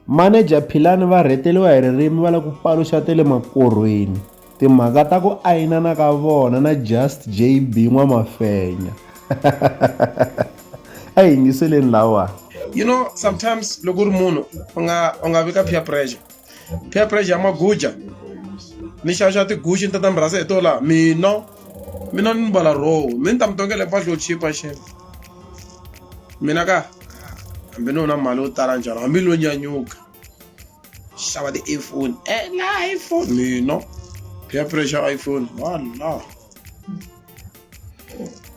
Maneja Philani va rheteliwa hi ririmi va la ku paluxa te le makorhweni timhaka ta ku ayinana ka vona na Just JB N'wamafenya. A hi yingiseleni lawa. You know sometimes loko u ri munhu u nga u nga vi ka peer pressure. Peer pressure ya maguja ni xava xava tigucci ni tata murhasa hi to laha mina. mina ni mbala roho mi ni ta mi tongela hi mpahla yo chipa xefe mina ka hambi ni wona mali yo tala njhani hambi lo nyanyuka xava ti-iphone ela eh, iphone mina peer pressure iphone wala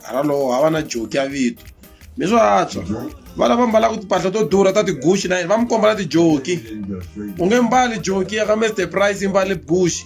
hala lowo hava na joki ya vito mi swo antswa vana va mbalaka timpahla to durha ta tiguxi na yini va mi komba na tijoki u nge mbali joki ya ka mister price yi mbale buxi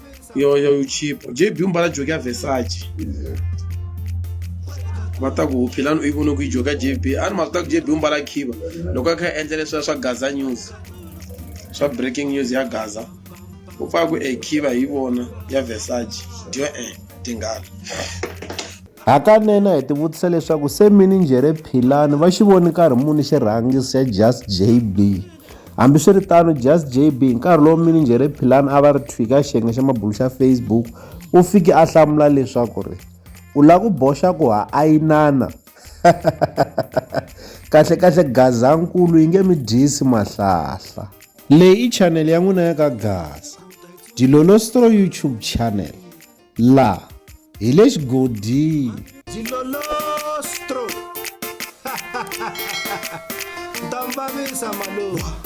yo yo yo chipo jb u mbala joki ya vesace va ta ku philani u yi vone ku yi joka jb a ni mhaka ta ku jb u mbala khiva loko a kha a endla leswiya swa gaza news swa breaking news ya gaza u pfaka ku e khiva hi vona ya vesace dyo e tinghala hakanene hi tivutisa leswaku se mininjhere philani va xi voni nkarhi muni xirhangi xa just jb Hambiswiritano, Just JB, hi nkarhi lowu minijhere Philani a va ri thwi ka xiyenge xa mabulo xa Facebook, u fike a hlamula leswaku ri, U lava ku boxa ku ha ayinana? Kahle-kahle Gazankulu yi nge mi dyisi mahlahla. Leyi i chanele ya n'wina ya ka Gaza Dilolo Stro YouTube channel. La hi le xigodini. Ndambavisa malovu.